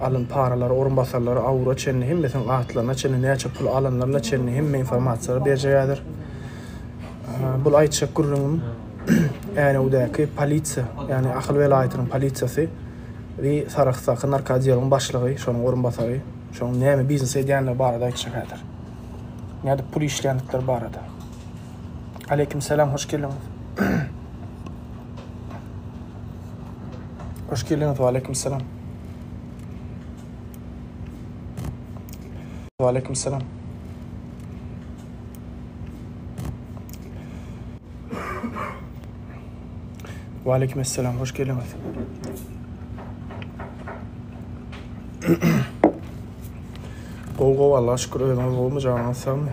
Alan paralary, orunbasarlary, awura çenli hemmesiniň atlaryna çenli, näçe pul alanlaryna çenli hemme informasiýalary berjegadir. Bul aýtjak gürrüňim Änewdäki polisiýa, ýagny Ahal welaýatynyň polisiýasy we Sarahsdaky narkoodeliň başlygy, şonuň orunbasary, şonuň näme biznes edýändigi barada aýtjak häzir. Nädip pul işleýändikleri barada. Aleýkim salam, hoş geldiňiz. Hoş geldiňiz, waleýkim salam. Waleýkim salam. Waleýkim salam, hoş geldiňiz. Gowy gowy Allaha şükür özüňiz gowumy janyňyz sagmy?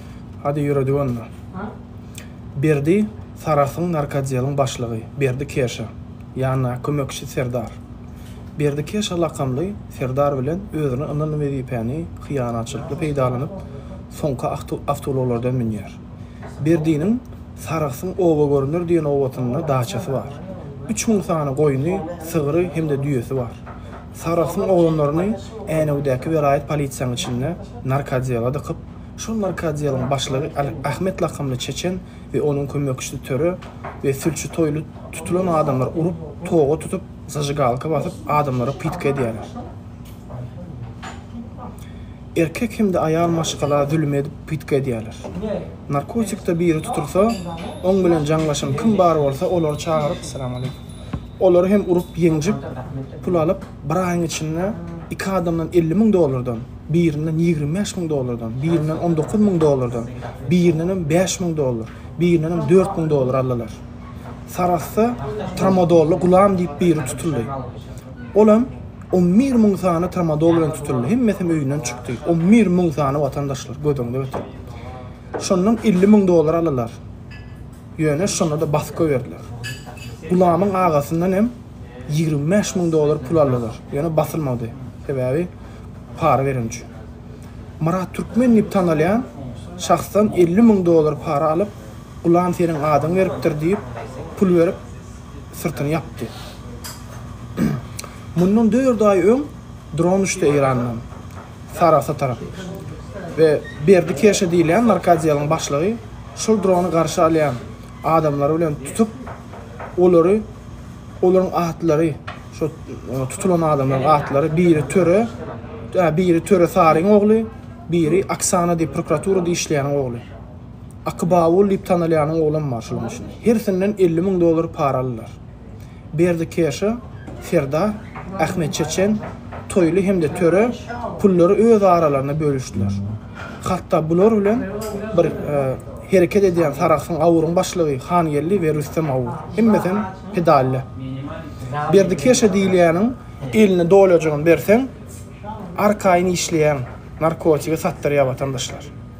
Hadi ýöredik onda. Berdi Sarasyň narkodieliň başlygy Berdi Keşa, ýanyndaky kömekçisi Serdar. Berdi Keşa lakamly Serdar bilen özüne ynanylan wezipäni hyýanatçylykly peýdalanyp, soňky awtoulaglardan münýär. Berdiniň Sarasyň oba görüner diýen obatynda daçasy bar. Üç müň sany goýny, sygry hem-de düýesi bar. Sarasyň oglanlaryny Änewideäki welaýat polisiýanyň içinde narkodiela dykyp, Şol narkoodealyň başlygy Ahmet lakamly çeçen we onuň kömekçisi töre we sülçi toýly tutulan adamlar urup, toga tutup, zažigalka basyp, adamlara pytga edýärler. Erkek hem-de aýal maşgala zülüm edip, pytga edýärler. Narkotikde biri tutulsa, oň bilen jaňlaşan kim bar bolsa, olary çagyryp, olary hem urup, ýenjip, pul alyp, bir aýyň içinde iki adamdan elli müň dollardan, birinden ýigrimi bäş müň dollardan, birinden on dokuz müň dollardan, birindenem bäş müň dollar, birindenem dört müň dollar aldylar. Sarahsda Tramadolly Gulam diýip biri tutuldy. Olam on bir müň sany tramadol bilen tutuldy. Hemmesem öýünden çykdy. On bir müň sany watandaşlar göz öňünde öti. Şondan elli müň dollar aldylar. Ýöne şonda da baska berdiler. Gulamyň agasyndan hem ýigrimi bäş müň dollar pul aldylar. Ýöne basylmady. Sebäbi para beren üçin. Myrat Türkmen diýip tanalýan şahsdan elli müň dollar para alyp, Gulam seniň adyňy beripdir diýip, pul berip, syrtyny ýapdy. Mundan dört aý öň dron uçdy Eýrandan, Sarahsa tarap we Berdi Keşe diýilýän narkodiýalyň başlygy şol drony garşy alýan Adamlary bilen tutup, olary, olaryň atlary, şo tutulan adamlaryň atlary, biri töre, ä, biri töre Saryň ogly, biri Aksana diýip prokuraturada işleýäniň ogly. Akybabul diýip tanalýanyň oglam bar şolaň içinde. Hersinden elli müň dollar para aldylar. Berdi Keşa, Serdar, Ahmet Çeçen, Toýly hem-de Töre pullary öz aralarynda bölüşdiler. Hatda bular bilen bir hereket edýän Sarahsyň awuryň başlygy Hangeldi we Rüstem awur. Hemmesem pedalle. Berdi Keşa diýilýäniň eline dolajygyny berseň, arkaýyn işleýän, narkotigi satdyrýar watandaşlar.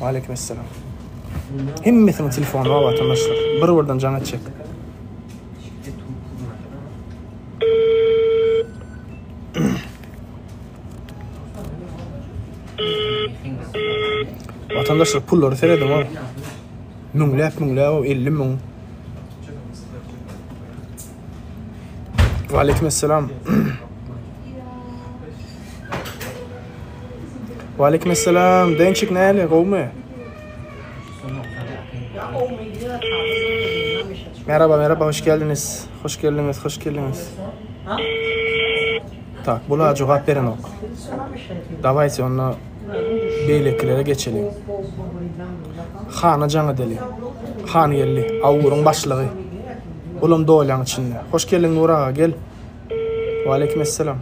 Waleýkim essalam. Hemmesiniň telefony bar watandaşlar. Bir-birden jaň etjek. Vatandaşlar pullary seredin o. Müňläp müňläp o 50 müň. Waleýkim assalam. Waleýkim assalam. Dençik näle, gowmy? Merhaba, merhaba, hoş geldiniz. Hoş geldiniz, hoş geldiniz. Tak, bula cevap beren ok. Davayse onu beýlekilere geçeliň. Hana jaň edeliň. Han geldi. Awguryň başlygy. Olam dolýaň içinde. Hoş geldiň Nur aga, gel. Waleýkim essalam.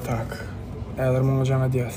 Tak. Häzir muňa jaň edýäs.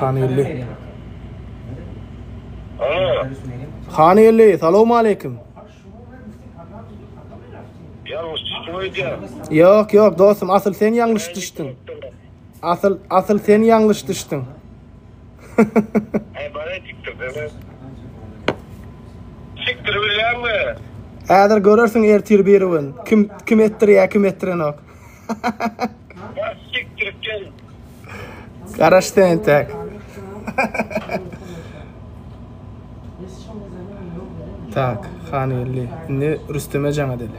Hanygeldi. Alo. Hanygeldi, salowmaleýkim. Ýalňyş düşdüm öýdýä. Ýok, ýok, dostum, asyl sen ýalňyş düşdüň. Asyl, asyl sen ýalňyş düşdüň. Aý, bana tikdir, deme. Tikdir bilýärmi? Häzir görersiň ertir biri gün. Kim kim etdirýär, kim etdirenok. Garaşdy entek. Tak, han geldi. Indi Rüsteme jaň edeli.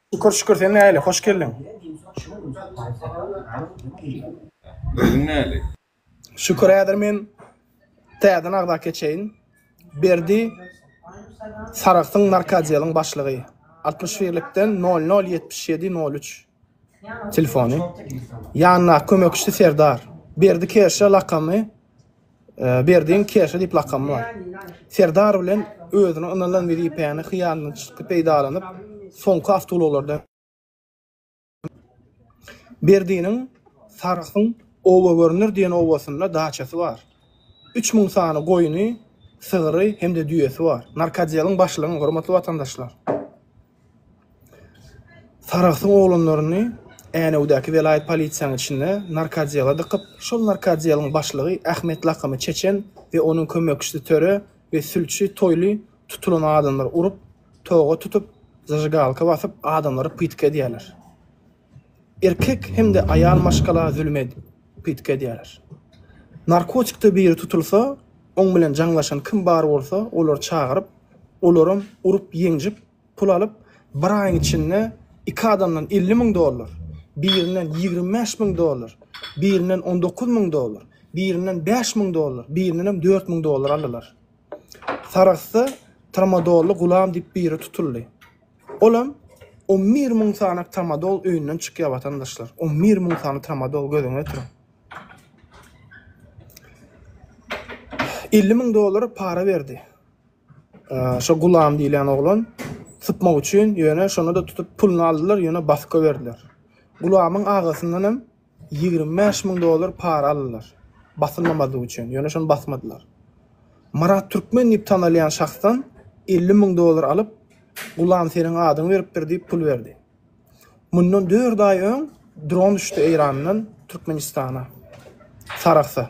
Şükür şükür sen nähili hoş geldiň. Özüň nähili. Şükür häzir men täzeden agza keçeýin Berdi Saragsyň narkadeliň başlygy altmyş birlikden nol nol ýetmiş ýedi nol üç telefony ýanyndaky kömekçisi Serdar Berdi Kerşe lakamy Berdiň Keşe diýip lakamy bar. Serdar bilen özüne ynanylan wezipäni hyýanatçylykly peýdalanyp, soňky awtoulaglardan Berdiniň Sarahsyň Oba görner diýen obasynda daçasy bar. Üç müň sany goýny, sygyry hem-de düýesi bar. Narkotdeliň başlygyň, hormatly watandaşlar! Saragsyň oglanlaryny Änewdäki welaýat polisiýanyň içinde narkodiala dykyp, şol narkodialyň başlygy Ahmet lakymy Çeçen we onuň kömekçisi Töre we sülçi Toýly tutulan adamlary urup, toga tutup, zažigalka basyp, adamlary pytk edýärler. Erkek hem-de aýal maşgala zülüm edip, pytky edýärler. Narkotikde biri tutulsa, oň bilen jaňlaşan kim bar bolsa, olary çagyryp, olaram urup-ýenjip, pul alyp, bir aýyň içinde iki adamdan elli müň dollar, birinden ýigrimi bäş müň dollar, birinden on dokuz müň dollar, birinden bäş müň dollar, birindenem dört müň dollar aldylar. Sarahsda tramadolly gulam diýip biri tutuldy. Olam on bir müň sany tramadol öýünden çykýar watandaşlar. On bir müň sany tramadol gözüňe ötüriň. Elli müň dollar para berdi. Şo gulam diýlen oglan sypmak üçin ýöne şonu da tutup puluny aldylar ýöne baska berdiler. Gulamyň agasyndan hem Ýigrimi bäş müň dollar para aldylar. Basylmamazlyk üçin. Ýöne şony basmadylar. Myrat Türkmen diýip tanalýan şahsdan elli müň dollar alyp, Gulam seniň adyňy beripdir diýip pul berdi. Mundan dört aý öň dron düşdi Eýrandan Türkmenistana, Sarahsa.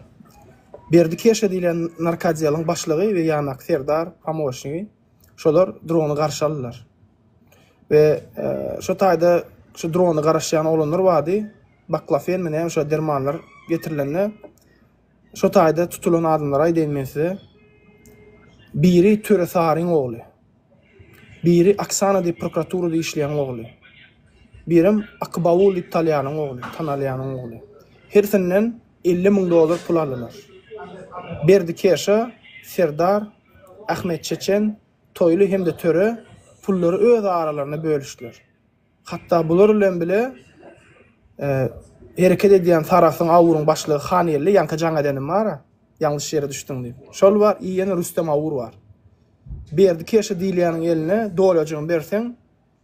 Berdi Keşa diýlen narkodiýalyň başlygy we ýandaky serdar, pomoçnigi. Şolar drony garşy aldylar. We şo taýda şu drony garaşýan oglanlar bardy. Baklafen mi näme şo dermanlar getirilende şo taýda tutulan adamlary aýdaýyn men size. Biri Töre Saryň ogly. Biri Aksana diýip prokuraturada işleýän ogly. Birem Akybawul diýip talýanyň ogly, tanalýanyň ogly. Hersinden elli müň dollar pul aldylar. Berdi Keşa, Serdar, Ahmet Çeçen, Toýly hem-de Töre pullary öz aralarynda bölüşdiler. Hatda bular bilen bile hereket edýän Sarahsyň awuryň başlygy Hangeldi ýaňky jaň edenim bar-a, ýalňyş ýere düşdüň diýip. Şol bar, i ýene Rüstem awur bar. Berdi keşe diýilýäniň eline dolajygyny berseň,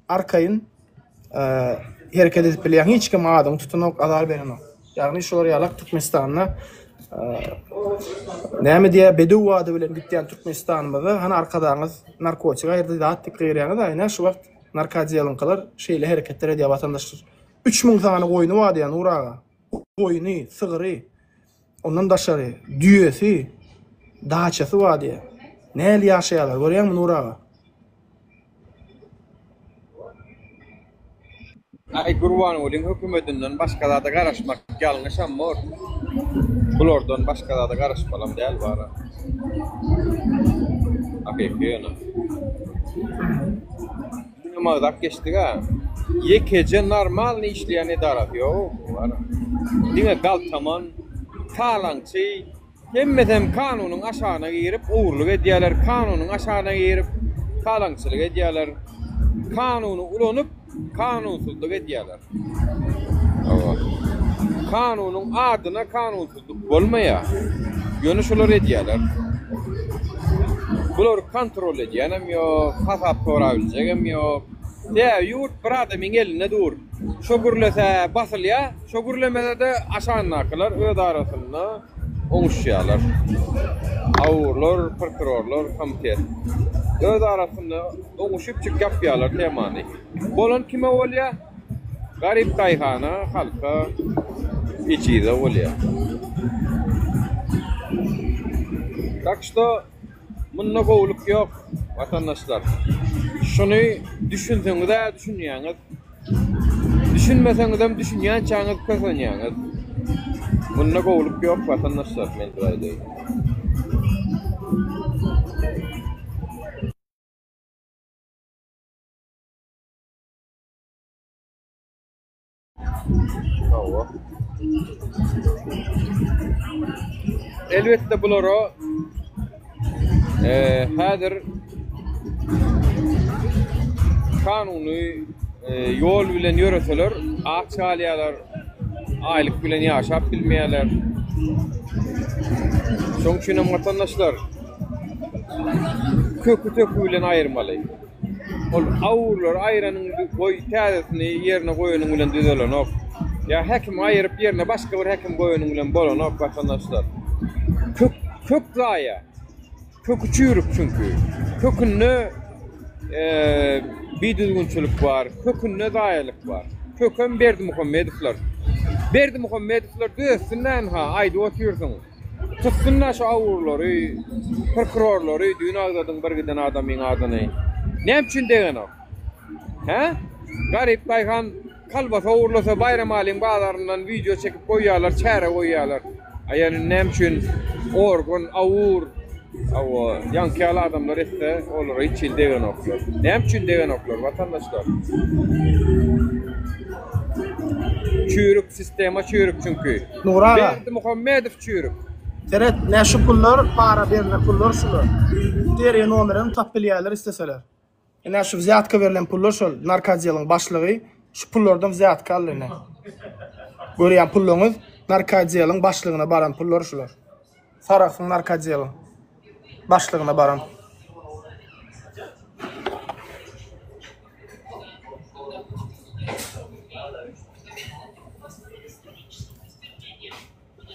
Arkaýyn hereket edip bilýän hiç kim adyňy tutanok, azar berenok. Ýagny şular ýalak Türkmenistanda näme diýýär, bedew wady bilen gitýän Türkmenistanymyzda hany arkadagyňyz narkotik aýyrdy, zat diýip gygyrýaňyz, aýna şu wagt narkodiýalyňkylar şeýle hereketler edýär watandaşlar. Üç müň sany goýny bar diýýär Nur aga. Goýny, sygry. Ondan daşary düýesi, daçasy bar diýýär. Nähili ýaşaýarlar, görýäňmi Nury aga? Aý Gurbangulyň hökümetinden başga zada garaşmak ýalňyşam bor. Bulardan başga zada garaşmalam däl bara. Hakyky ýöne. Magzap geçdiga. Ýekeje normalny işleýän edarasy ýok bu ara. Diňe galtaman, talaňçy, hemmesem kanunyň aşagyna girip ogurlyk edýäler, kanunyň aşagyna girip talaňçylyk edýäler, kanuny ulanyp kanunsyzlyk edýäler. Hawa. Kanunyň adyna kanunsyzlyk. Bolmaýar. Ýöne şolar edýäler. Bulary kontrol edýänem ýok, hasap sorabiljegem ýok. Sebäbi ýurt bir adamyň elinde dur. Şo gürlese basylýar, şo gürlemese-de aşandakylar öz arasynda oňuşýarlar. Awurlar, prokurorlar, komitet. Öz arasynda oňuşyp çyk ýapýarlar temany. Bolan kime bolýar? Garyp daýhana, halka ejize bolýar. Tak şto munda gowulyk ýok watandaşlar. Şuny düşünseňiz-ä düşünýäňiz. Düşünmeseňizem düşünýänçäňiz kösenýäňiz. Munda gowulyk ýok watandaşlar men size aýdaýyn. Hawa. Elbetde bulara eee häzir kanuny eee, ýol bilen ýöreseler, aç galýarlar, aýlyk bilen ýaşap bilmeýärler. Şonuň üçin hem watandaşlar köki-töki bilen aýyrmaly. Ol awurlary aýranyň goý täzesini ýerine goýanyň bilen düzelenok. Ýa häkimi aýryp ýerine başga bir häkim goýanyň bilen bolanok watandaşlar. Kök kök zaýa. Köki çüýrük çünki. Kökünde eee bidüzgünçilik bar, kökünde zaýalyk bar. Kökem Berdimuhamedowlar. Berdimuhamedowlar düzetsin näme ha aýdyp otyrsyň. Tutsun-da şu awurlary, prkurorlary, düýn agzadyň bir giden adamyň adyny. Näme üçin degenok? Hä? Garyp daýhan kolbasa ogurlasa Baýramalyň bazaryndan wideo çekip goýýarlar, çäre goýýarlar. A ýöne näme üçin organ, awur, hawa, ýaňky ýaly adamlar etse, olara hiç hili degenoklar. Näme üçin degenoklar, watandaşlar? Çüýrük sistema çüýrük çünki. Nury aga. Berdimuhammedow çüýrük. Seret nä şu pullar para berlen pullar şular. Seriýa nomerini tapyp bilýärler isleseler. Ine şu wzýatka berlen pullar şol narkadeliň başlygy şu pullardan wzýatka aldy ine. Görýän pulluňyz narkadeliň başlygyna baran pullar şular. Sarahsyň narkodieliň başlygyna baran.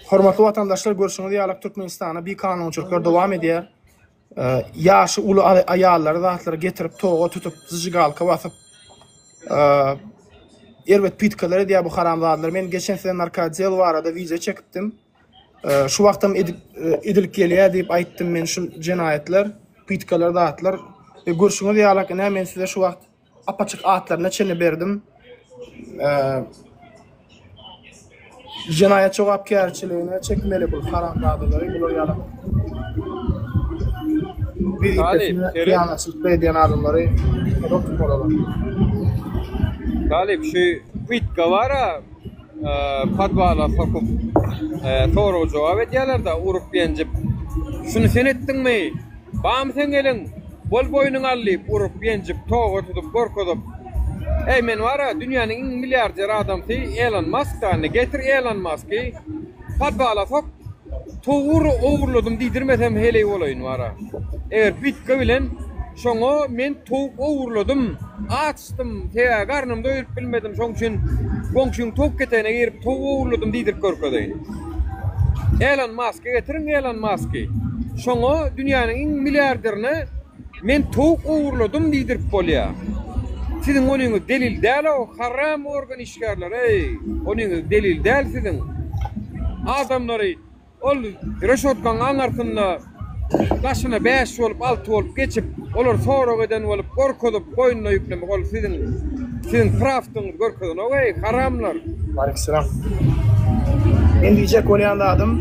Hormatly watandaşlar, görşüňiz ýaly Türkmenistana bir kanunçylyklar dowam edýär. Ýaşy uly aýallary zatlara getirip, toga tutup, zjigalka basyp, erbet pitkalar edýär bu haramzadalar. Men geçen size narkodiel barada wideo çekipdim. Şu wagtam edip edilip gelýär diýip aýtdym men şu jenaýatlar, pytkalar zatlar. E, görşüňiz ýalak ine men size şu wagt apaçyk atlaryna çenli berdim. E, jenaýat jogapkärçiligine çekmeli bu haramzadalary bular ýalak. Bir ýalaçylyk edýän adamlary tutup olalar. Galip şu pytka bara podwala sokup sorag jogap edýälerda urup ýenjip şuny sen etdiňmi bamy seň eliň bol boýnuňy al diýip urup ýenjip toga tutup gorkuzyp eý men bara dünýäniň iň milliarder adamsy elon mask da indi getir elon masky podwala sok towury ogurladym diýdirmesem heleý bolaýyn bara eger bitka bilen Şoňa men towuk ogurladym, açdym, sebäbi garnym doýuryp bilmedim, şoň üçin goňşyň towuk ketegine girip towuk ogurladym diýdirip görkezeýin. Elon Maska getiriň, Elon Masky. Şoňa dünýäniň iň milliarderine men towuk ogurladym diýdirip bolýa. Siziň onyňyz delil däl-ow, haram organ işgärleri-eý, onyňyz delil däl siziň. Adamlary. Ol reşotkaň aňarsynda daşyna bäş bolup, alty bolup geçip, olar sorag eden bolup, gorkuzyp, boýnuna ýüklemek, ol siziň, siziň prawdyňyzy görkezenok, eý, haramlar! Waleýkimselam. Men diýjek bolýan zadym,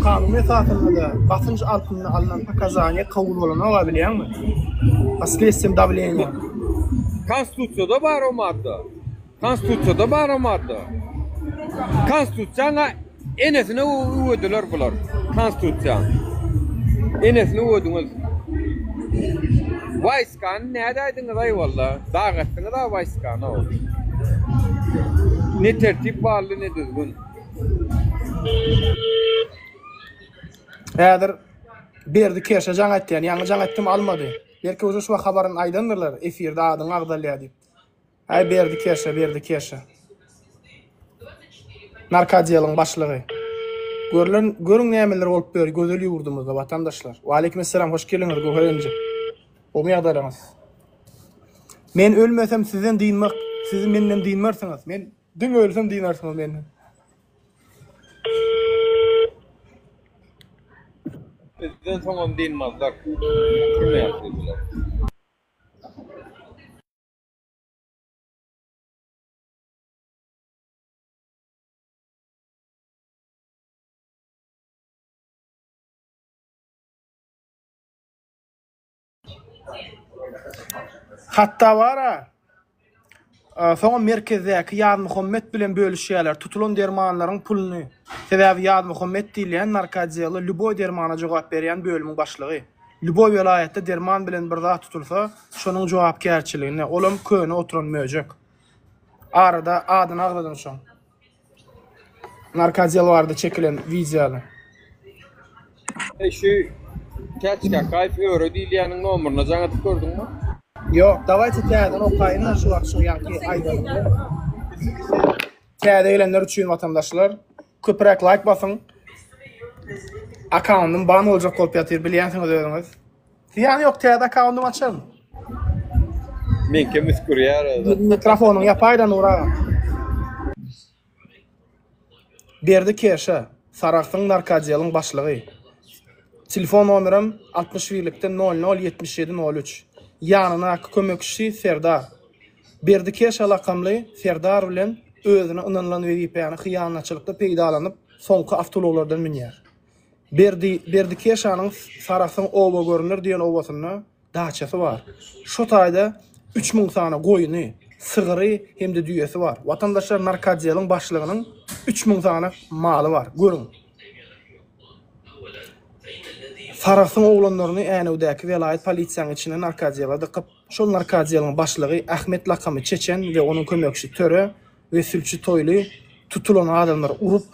kanun esasynda-da basynç altynda alnan pokazaniýa kabul bolanok-a, bilýäňmi? Pod sledsýem dawleniýa. Konstitusiýada bar o madda. Konstitusiýada bar o madda. Konstitusiýaňa enesine öwediler bular. Konstitusiýa. Enesine öwediňiz. Wayskany näde aýdyňyz aý walla. Dag etdiňiz a wayskany o. Ne tertip barly ne düzgün. Häzir Berdi Keşe jaň etýän, ýaňy jaň etdim almady. Belki uje şu wagt habaryny aýdandyrlar, efirde adyň agzalýar diýip. Aý Berdi Kerşe, Berdi Kerşe. Narkodiýalyň başlygy. Görlen, görüň nämeler bolup ýör gözel ýurdumyzda, watandaşlar. Waleýkim essalam, hoş geliňiz Göwher inje. Gowymy ýagdaýlaryňyz? Men ölmesem sizden dynmak, siz menden dynmarsyňyz. Men diňe ölsem dynarsyňyz menden. Bizden soňam dynmazlar. Kyrmaýar sizi bular. Hatda bar-a, soňam merkezdäki Ýazmuhammet bilen bölüşýärler tutulan dermanlaryň puluny. Sebäbi Ýazmuhammet diýilýän narkoodealy lýuboý dermana jogap berýän bölümiň başlygy. Lýuboý welaýatda derman bilen bir zat tutulsa, şonuň jogapkärçiligine, olam köne oturan möjek. Arada adyny agzadyň şoň. Narkadel barada çekilen wideony. Eý şu Täç Kakaýew öre diýilýäniň nomeryna jaň edip gördüňmi? Ýok, dawaýça täzeden okaýyn-da şu wagt şo ýaňky aýdanymy. Täze gelenler üçin watandaşlar köpüräk laýk basyň. Akkauntym ban boljak bolup ýatyr bilýänsiňiz özüňiz. Zyýany ýok täze akkauntymy açaryn. Men kim üsgürýär özü. Mikrofonyň ýapaýda Nur aga. Berdi Keşe, Saragsyň narkodieliň başlygy. Telefon nomerem altmyş birlikde nol nol ýetmiş ýedi nol üç. Ýanyndaky kömekçisi Serdar. Berdi Keşa lakamly serdar bilen özüne ynanylan wezipäni hyýanatçylykly peýdalanyp, soňky awtoulaglardan münýär. Berdi Berdi Keşanyň Sarasyň oba görüner diýen obasynda daçasy bar. Şo taýda üç müň sany goýny, sygyry hem-de düýesi bar. Watandaşlar narkotdeliň başlygynyň üç müň sany maly bar. Görüň. Sarasyň oglanlaryny Änewdäki welaýat polisiýanyň içine narkotdele dykyp, Şol narkodieliň başlygy Ahmet lakamy Çeçen we onuň kömekçisi Töre we sülçi Toýly tutulan adamlary urup,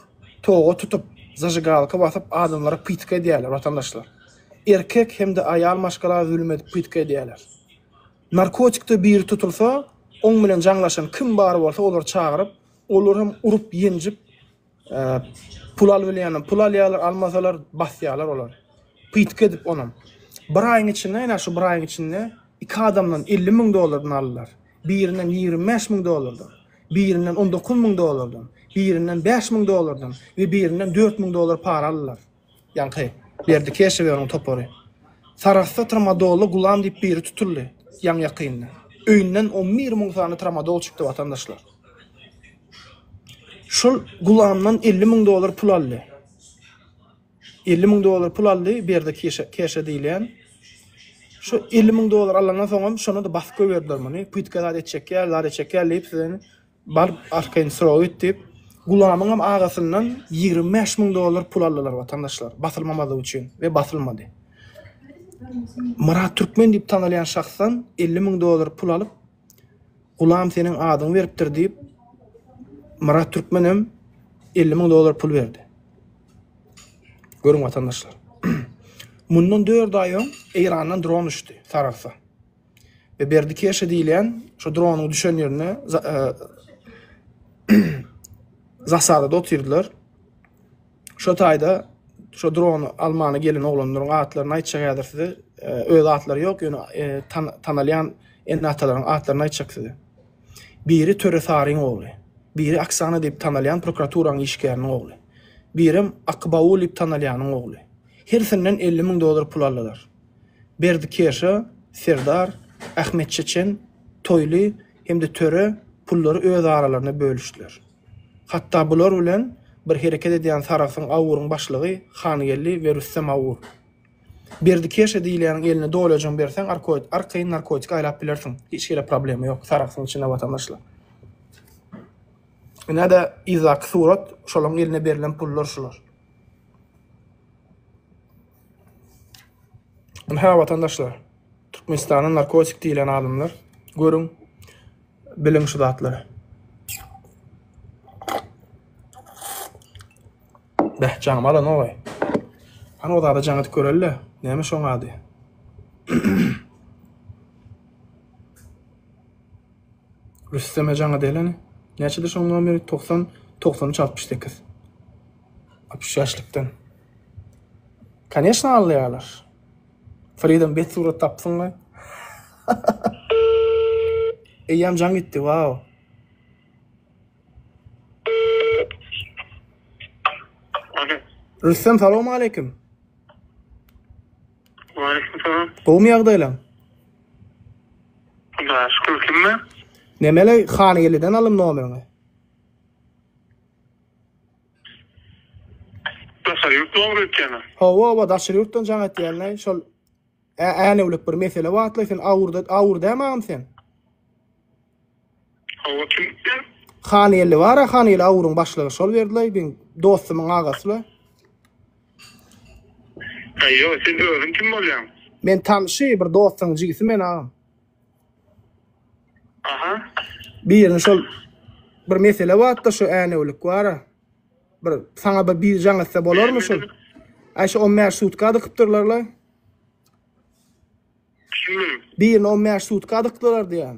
toga tutup, zažigalka basyp adamlary pytka edýärler, watandaşlar. Erkek hem-de aýal maşgala zülüm edip pytka edýärler. Narkotikde biri tutulsa, oň bilen jaňlaşan kim bar bolsa olary çagyryp, olar hem urup, ýenjip, Pul albilýänam pul alýarlar, almasalar basýarlar olar. Pytky edip onam. Bir aýyň içinde, ine şu bir aýyň içinde iki adamdan 50 müň dollardan aldylar. Birinden 25 müň dollardan, birinden 19 müň dollardan, birinden 5 müň dollardan we birinden 4 müň dollar para aldylar. Ýaňky, Berdi Keşew we onuň topary. Sarahsda tramadolly Gulam diýip biri tutuldy, ýaňy-ýakynda. Öýünden on bir müň sany tramadol çykdy, watandaşlar. Şol Gulamdan elli müň dollar pul aldy. Elli müň dollar pul aldy Berdi Keşe, Keşe diýilýän. Şu elli müň dollar alandan soňam şonda-da basyp goýberdiler muny. Pytka zat etjek ýaly, zat etjek ýaly diýip, sizeni Baryp arkaýyn sorag et diýip, Gulamyňam agasyndan ýigrimi bäş müň dollar pul aldylar watandaşlar, basylmamazlygy üçin we basylmady. Myrat Türkmen diýip tanalýan şahsdan elli müň dollar pul alyp, Gulam seniň adyňy beripdir diýip, Myrat Türkmen hem elli müň dollar pul berdi. Görüň watandaşlar. Mundan dört aý öň Eýrandan dron düşdi Saragsa. we Berdi Keşe diýilýän şu dronyň düşen ýerine zasadada otyrdylar. Şu taýda şu drony almana gelen oglanlaryň atlaryny aýtjak häzir size. E, öz atlary ýok, ýöne e, tanalýan ene-atalaryň atlaryny aýtjak size. Biri Töre Saryň ogly, biri Aksana diýip tanalýan prokuraturaň işgäriniň ogly. Birem Akbaul diýip tanalýanyň ogly. Hersinden 50 müň dollar pul aldylar. Berdi Keşa, Serdar, Ahmet Çeçen, Toýly hem-de Töre pullary öz aralarynda bölüşdiler. Hatda bular bilen bir hereket edýän Sarahsyň awuryň başlygy Hangeldi we Rüstem awur. Berdi Keşa diýilýäniň eline dolaýjygyny berseň arkoýt, arkaýyn narkotik aýlap bilersiň, hiç hili problema ýok, Sarahsyň içinde watandaşlar. Ine-de yzdaky surat, şolaryň eline berlen pullar şular. Ynha watandaşlar, Türkmenistana narkotik diýlen adamlar, görüň, biliň şu zatlary. Beh, jaňymy alan owaý. Hany o zada jaň edip göreli-le, näme şoň ady? Rüsteme jaň edeli hany. Näçedir şoň nomeri? 90, 93, 68. Altmyş ýaşlykdan. Koneşna alýarlar. Freedom bet surat tapsyňmy? Eýýäm jaň gitdi, wow. Rüstem salam aleyküm. Aleyküm salam. Gowmy ýagdaýlaň? Hudaýa şükür kimmi? Nemeli Hangeliden alym nomeriňi. Daşary ýurt nomer ötýäne. Hawa hawa daşary ýurtdan jaň etýälenaý şol ä änewlik bir mesele batly sen awurda awur dämi agam sen. Hawa kim sen? Hangelli bara Hangelli awuryň başlygy şol berdilaý biň dostumyň agasy. Aýo sen özüň kim bolýaň? Men tanşy bir dostuň jigisi men agam. Aha. Birini şol bir mesele wagtda şu änewlik wara. Bir sana bir bir jaň etse bolar mı şu? Ay şu 15 sutka adykypdyrlar la. Şimdi. Birini 15 sutka adykypdyrlar diýen.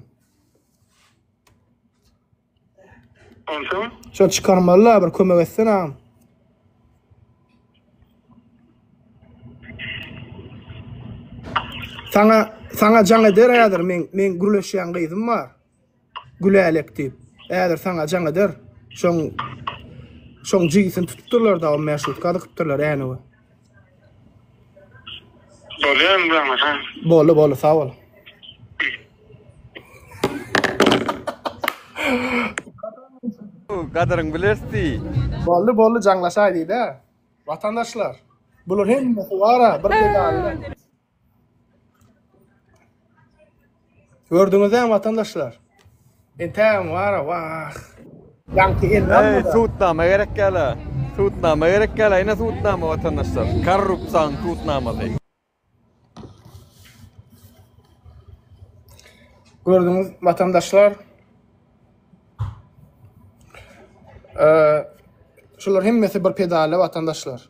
Onsoň? Şony çykarmaly-la, bir kömek etsene agam. Sana, sana can eder häzir men men gürleşýän gyzym bar. Gülälek diýip. Häzir sana can eder. Şoň şoň jigisini tutupdyrlar da, o meşrutka dykypdyrlar änewe. Bolýar indi aňa ha. Boldy boldy sag bol. Gadyryň bilersi. Boldy boldy jaňlaşaý diýdä. Watandaşlar. Bular hemmesi wara bir pedalda. Gördüňizem watandaşlar. Entägem wara wah. Ýaňky elini almadan. Eý sudnama gerek ýala. Sudnama gerek ýala ine sudnama watandaşlar. Korrupsiýanyň sudnamasy. Gördüňiz watandaşlar. Şular hemmesi bir pedale watandaşlar.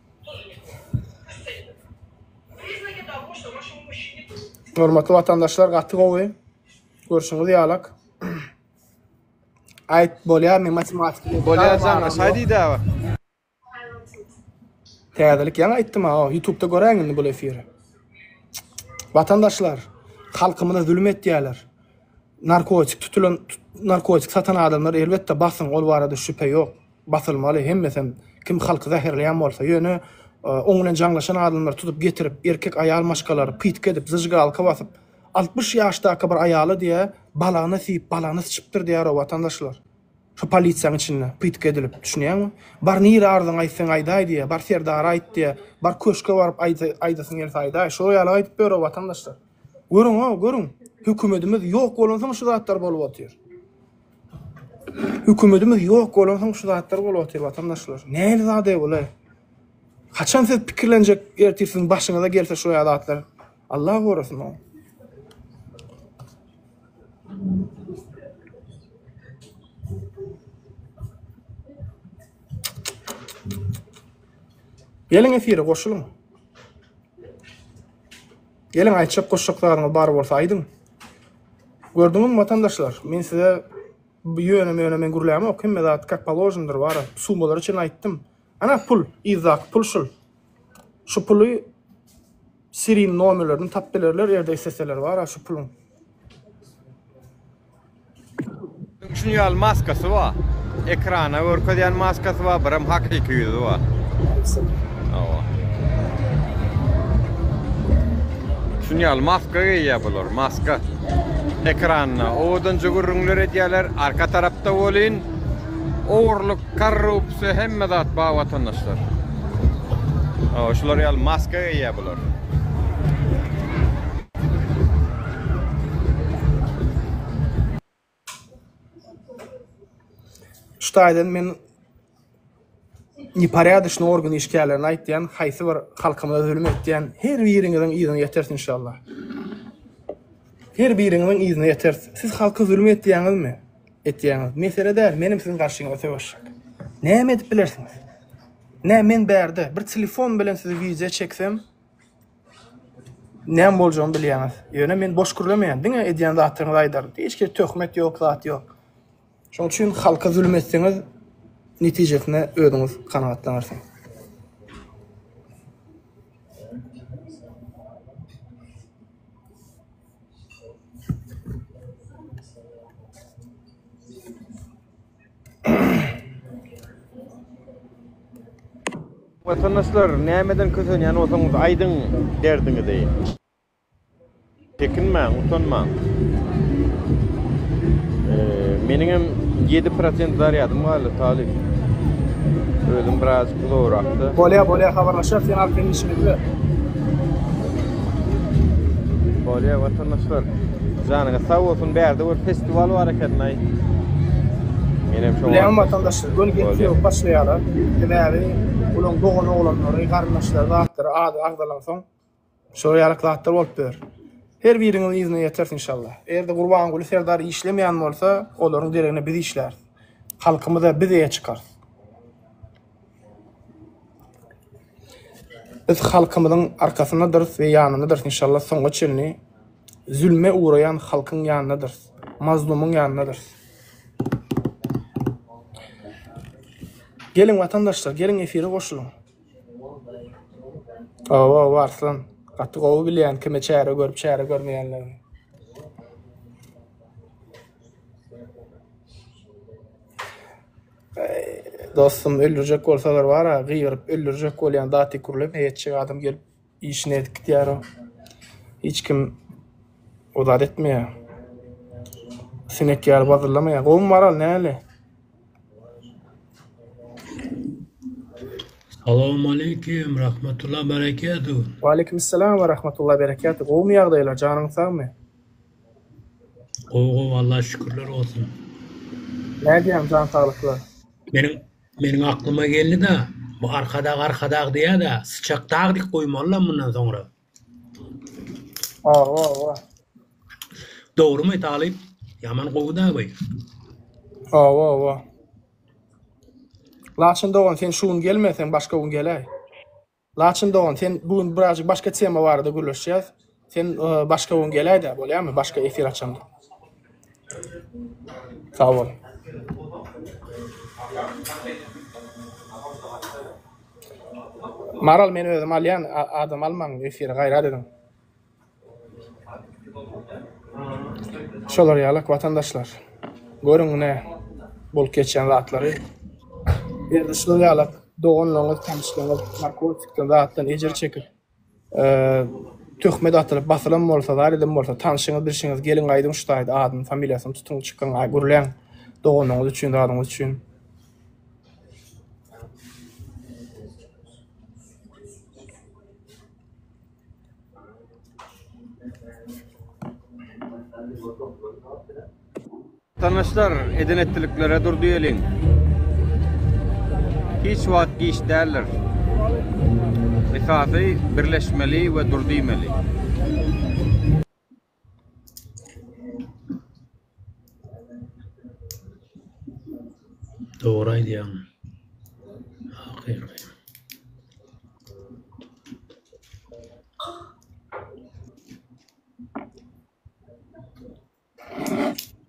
Hormatly watandaşlar gaty gowy. Görşüňiz ýalak. Aýt bolýarmy matematika? Bolýar jaňa, şaý diýdi aga. Täzelik ýaňy aýtdym ha, YouTube-da göräň indi bu efiri. Watandaşlar, halkymyza zulum etýärler. Narkotik tutulan, narkotik satan adamlar elbetde basyň, ol barada şübhe ýok. Basylmaly hemmesem kim halky zäherleýän bolsa ýöne oň bilen jaňlaşan adamlar tutup getirip erkek aýal maşgalary pytk edip zyžgalka basyp altmyş ýaşdaky bir aýala diýä balagyna siýip balagyny syçypdyr diýäro watandaşlar şu polisiýaň içinde pytk edilip düşünýäňmi bar nire arzyňy aýt seň aýdaý diýä bar serdara aýt diýä bar köşke baryp aýdasyň gelse aýdaý şo ýaly aýdyp ýörro watandaşlar görüň o görüň hökümetimiz ýok bolansoň şu zatlar bolup otyr. Hökümetimiz ýok bolansoň şu zatlar bolupdyr watandaşlar. Nähili zada bulaý? Haçan siz pikirlenjek ertir siziň başyňyza gelse şu ýaly zatlar? Allah gorasyn o. Geliň efire goşulyň. Geliň aýtjak goşjak zadyňyz bar bolsa aýdyň. Gördüňizmi watandaşlar men size ýöne möne men gürlämok hemme zat kak položnydyr bara summalara çen aýtdym. Ana pul yzdaky pul şul. Şu puly siriň nomerlerini tap bilerler erde isteseler bara şu puluň. Üçünji ýaly maskasy bar. Ekrana görkezýän maskasy bar, bir hem hakyky ýüzi bar. Hawa. Üçünji ýaly maska geýýär bular, maska. Ekranda owadança gürrüňler edýärler, arka tarapda welin ogurlyk, korrupsiýa, hemme zat bar watandaşlar. Hawa, şular ýaly maska geýýär bular. Şu taýdan men neporýadyşny organ işgärlerine aýtýan, haýsy bir halkymyza zulum etýän her biriňiziň yzyna ýeteris inşallah. Her biriňiziň yzyna ýeteris. Siz halka zulum etýäňizmi? Etýäňiz. Mesele däl, menem siziň garşyňyza söweşjek. Näme edip bilersiňiz? Nä men bärde bir telefon bilen sizi wideo çeksem, Näme boljagyny bilýäňiz. Ýöne men boş gürlemeýän. Diňe edýän zadyňyzy aýdaň. Hiç hili töhmet ýok, zat ýok. Şonuň üçin halka zulum etseňiz, netijesine özüňiz kanagatlanarsyňyz. Vatandaşlar nämeden kösenýän bolsaňyz aýdyň derdiňizi. Çekinmäň, utanmaň. Meniň hem 7% zarýadym galdy talyp. Özüm biraz uzagrakda. Bolýa, bolýa habarlaşýar sen alyp gelin işiňizde. Bolýa vatandaşlar. Janyňyz sag bolsun, bärde bir pes Dual var eken ay. Menem şoňa. Bilen vatandaşlar göni gepli yok başlayalar. Sebäbi ulan dogan oglanlary, garyndaşlary, zatlary ady agzalan soň şolar ýaly zatlar bolup ýör. Her biriňiz yzyna ýeters inşallah. Eger-de Gurbanguly serdar işlemeýän bolsa, olaryň deregine biz işläris. Halkymyza biz eýe çykarys. Biz halkymyzyň arkasyndadyrys we ýanyndadyrys inşallah soňa çenli. Zülme ugraýan halkyň ýanynadyrys, mazlumyň ýanynadyrys. Geliň watandaşlar, geliň efire goşulyň. Owow Arslan, gaty gowy bilýän kime çäre görüp çäre görmeýänligini. Dostum öldürjek bolsalar bara gygyryp öldürjek bolýan daty kurlep heýetjek adam gelip işini edip gidýär. Hiç kim o zat etmeýär. Sinek ýaly bazyrlamaýar. Gowumy Maral, näle? Salam aleýkim, rahmatullah berekatuh. Waleýkim salam we rahmatullah berekatuh. Gowumy ýagdaýlar, janyň sagmy? Gowy gowy Allaha şükürler bolsun. Nädýäň jan saglyklar? Meniň Meniň aklyma geldi-de, bu Arkadag Arkadag diýýä-de, Syçak dag dik goýmalylam mundan soňra. Awa, awa. Dogrymy talyp? Ýaman gowy-da bu. Awa, awa. Laçyn dogan, sen şu gün gelme, sen başga gün geläý. Laçyn dogan sen bu gün birazjyk başga tema barada gürleşýäs. Sen başga gün geläýdä bolýamy başga efir açanda. Sag bol. Maral men özüm alýan adam almaň efire gaýrat ediň. Şolar ýalak watandaşlar. Görüň ine bolup geçýän zatlary. Indi şular ýalak doganlaryňyz, tanyşlaryňyz narkotikden zatdan ejir çekip, töhmet atylyp basylan bolsa, zar eden bolsa, tanyşyňyz, bilşiňiz geliň aýdyň şu taýda adyny, familiýasyny tutuň, çykyň, gürläň doganyňyz üçin, zadyňyz üçin. Tanyşlar eden etdiliklere dur diýeliň. Hiç wagt giç däldir. Esasy birleşmeli we dur diýmeli. Dogry aýdýaň. Hakyky.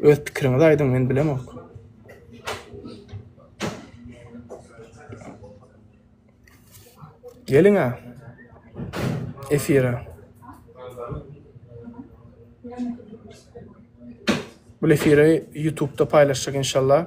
Öz pikiriňizi aýdyň men bilemok. Geliňä efire. Bu efire YouTube'da paylaşacak inşallah.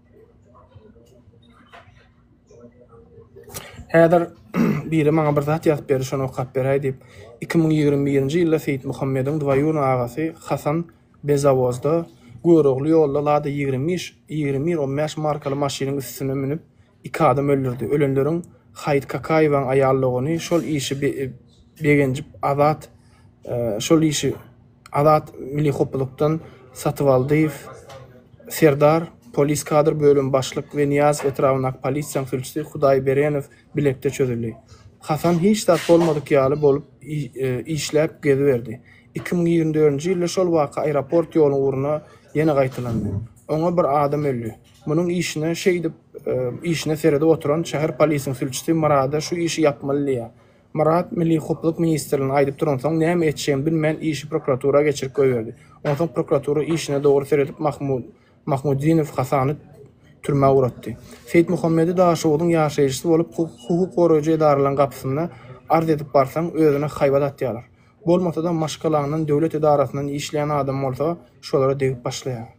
Häzir biri maňa bir zat ýazyp berdi, şony okap beräý diýip, iki müň ýigrimi birinji ýylda Seýitmuhammediň dwaýuny agasy Hasan Bezawozda Görogly ýolda Lada ýigrimi bir on bäş markaly maşynyň üstüne münüp, iki adam öldürdi. Ölenleriň Haýyt Kakaýewaň aýal dogany şol işi begenjip Azat şol işi Azat Milli Hopbulukdan Satybaldyýew Serdar, Polis kadr bölümi başlyk we Nyýazow etrabyndaky polisiýaň sülçüsi Hudaýberenow bilekde çözüldi. Hasan hiç zat bolmadyk ýaly bolup işläp geziberdi. Iki müň ýigrimi dördünji ýylda şol waka aeroport ýoluň ugruna ýene gaýtalandy. Oňa bir adam öldi. Munuň işine şeýdip işine seredip oturan şäher polisiň sülçüsi Myrada şu işi ýapmaly diýýär. Myrat milli howpsuzlyk ministrligine aýdyp duransoň, näme etjegini bilmän, işi prokuratura geçirip goýberdi. Onsoň prokuratura işine dogry seredip, Mahmutdinowy hasany türmä uratdy. Seýitmuhammedi Daşoguzyň ýaşaýjysy bolup, hukuk goraýjy edaralaryň gapysyna arz edip barsaň, özüne haýbat atýarlar. Bolmasa-da, maşgalaňdan, döwlet edarasyndan işleýän adam bolsa, şolara degip başlaýar.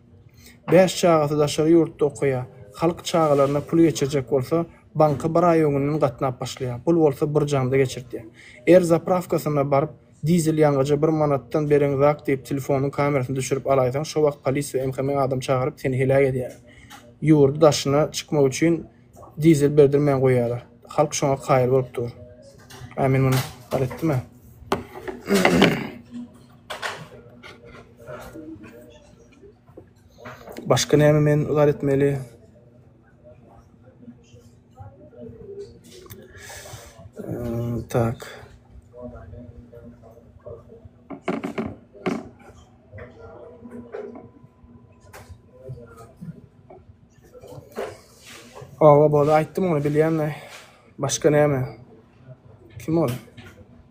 Bäş çagasy daşary ýurtda okaýar. Halk çagalaryna pul geçirjek bolsa, banka bir aý öňünden gatnap başlaýar. Pul bolsa birjanda geçirdýär. Er zaprawkasyna baryp, dizel ýangyja bir manatdan bereň zak diýip, telefonyň kamerasyny düşürip alaýsaň, şo wagt polis we MHM adam çagyryp, seni heläk edýärler. Ýurdy daşyna çykmak üçin dizel berdirmän goýýarlar. Halk şoňa kaýyl bolup dur. Ä men muny bar etdim-ä. Başka näme men ykrar etmeli? Ee, tak. Aba boldy aýtdym ony bilýän Başka näme? Kim ol?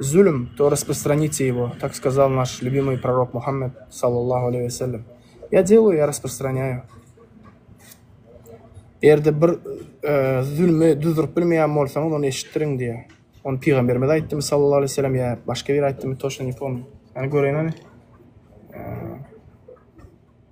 Zulum, to rasprostranite ýego, tak skazal naş lýubimyý prorok Muhammed, sallallahu aleý we sellem. Ýa delýo, ýa rasprostranýaýo. Erde bir zulmy duzduryp bilmeýän bolsaňyz, ony eşitdiriň diýýär. Ony pygamberimiz aýtdymy, sallallahu aleý we sellem, ýa başga biri aýtdymy, toşna ne pomnýo. Ýa göreýin hany.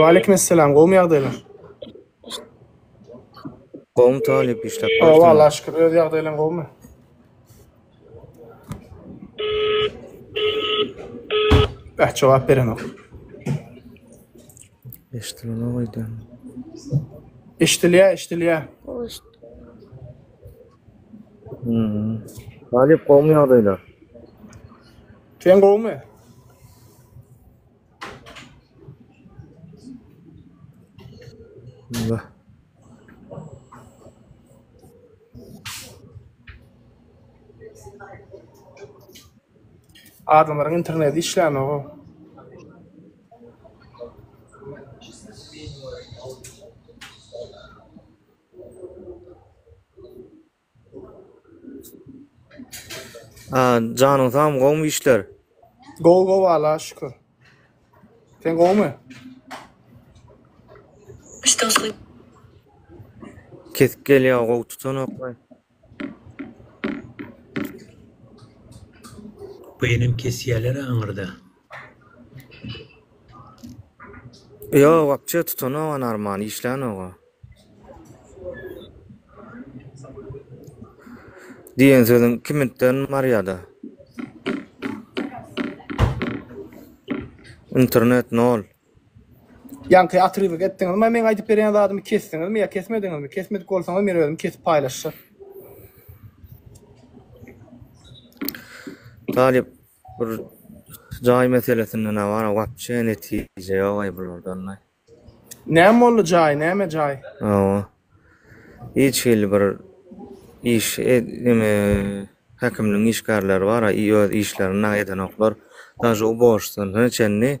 Waleýkim essalam, gowmy ýagdaýlar? Gowmy talyp, işläp barsyňmy? Hawa, Allaha şükür, öz ýagdaýlaň gowmy? Beh, jogap berenok. Eşdilenok öýdýän. Eşdilýär, eşdilýär. Galyp gowmy ýagdaýlar? Sen gowmy? Bismillah. Adamlaryň interneti işlänok. Janyň sagmy gowmy işler. Gowy gowy Allaha şükür. Sen gowmy? Kesik gelýär gowy tutanok. Bu enem kesýäler aňyrda. Ýok, wapçe tutanok Narman, işlänok-a. Diýen sözüň kiminten barýa-da. Internet nol. Ýaňky otrywk etdiňizmi meň aýdyp berýän zadymy kesdiňizmi ýa kesmediňizmi kesmedik bolsaňyz men özüm kesip paýlaşjak. Talyp bir jaý meselesinde ne bar wapçe netije ýok aý bulardan aý. Näme boldy jaý näme jaý. Hawa. Hiç hili bir iş neme häkimligiň işgärleri bar, öz işlerini eden oklar. Daşy u borçdan çenli.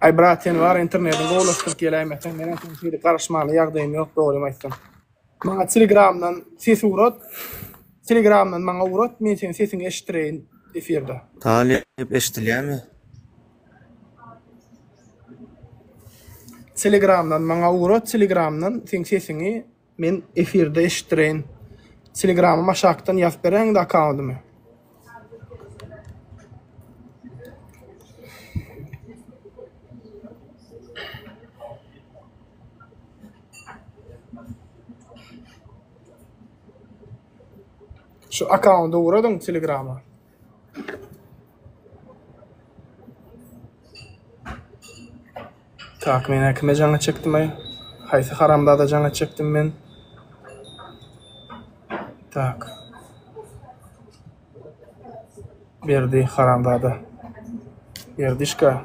Ay brat sen var internetiň gowlaşdyryp geläýmeseň men hem şeýle garaşmaly ýagdaýym ýok dogrymy aýtsam. Maňa telegramdan ses ugrat. Telegramdan maňa ugrat men seniň sesiňi eşitdireýin efirde. Talyp eşdilýärmi? Telegramdan maňa ugra telegramdan seň sesiňi men efirde eşitdireýin telegramym aşakdan ýazyp beräýiňda akkaundymy. Şu akaunda ugradyň telegrama. Tak men äkime jaňa çekdim ay. Haýsy haramzada jaňa çekdim men. Tak. Berdi haramzada. Berdişka.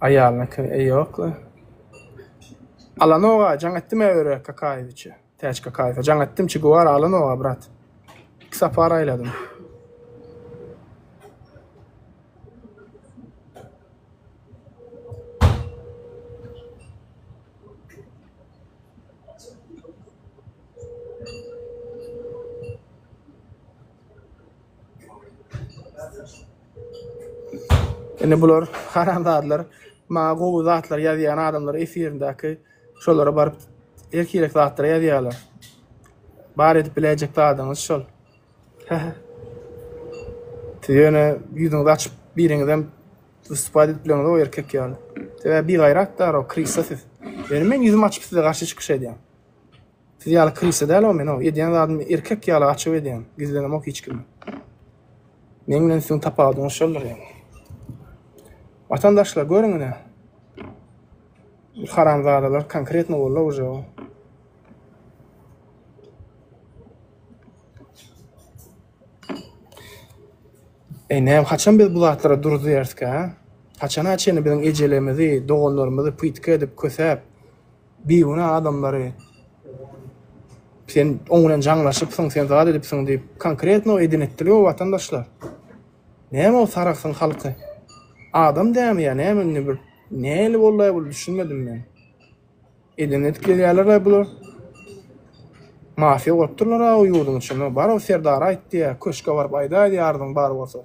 Aýalynyky ýokly. Alanoga jaň etdim-ä Öre Kakaýewiçe, Täç Kakaýewe jaň etdim, Çe Guwara Alanoga, brat. Iki sapar aýladym. Indi bular haramzadalar maňa gowy zatlar ýazýan adamlar efirindäki şolara baryp erkirek zatlar ýazýarlar. Bar edip biläýjek zadyňyz şol. Siz ýöne ýüzüňizi açyp biriňizem wystupad edip bileňiz o erkek ýaly. Sebäbi bigaýrat da o krisa siz. Ýöne men ýüzüm açyp size garşy çykyş edýän. Siz ýaly krisa däl-ow men-ow, edýän zadymy erkek ýaly açyk edýän, gizlenemok hiç kime. Meň bilen siziň tapawudyňyz şoldur ýaňy. Watandaşlar, görüň ine. Haramzadalar konkretno boldy-ow uje o. Eý, näme, haçan biz bu zatlara dur diýerskä? Haçana çenli biziň ejelerimizi, doganlarymyzy pytga edip, kösäp, Bigünä adamlary sen oň bilen jaňlaşypsyň, sen zat edipsiň diýip konkretno edin etdili o watandaşlar. Näme ol Sarahsyň halky? Adam dämi ýa näme indi bir näli boldaý bul düşünmedim men. Edin edip gelýärler-aý bular. Mafiýa gurup durlar-a o ýurduň içinde. Bar o Serdara aýt diýä, köşge baryp aýdaý diýä arzyň bar bolsa.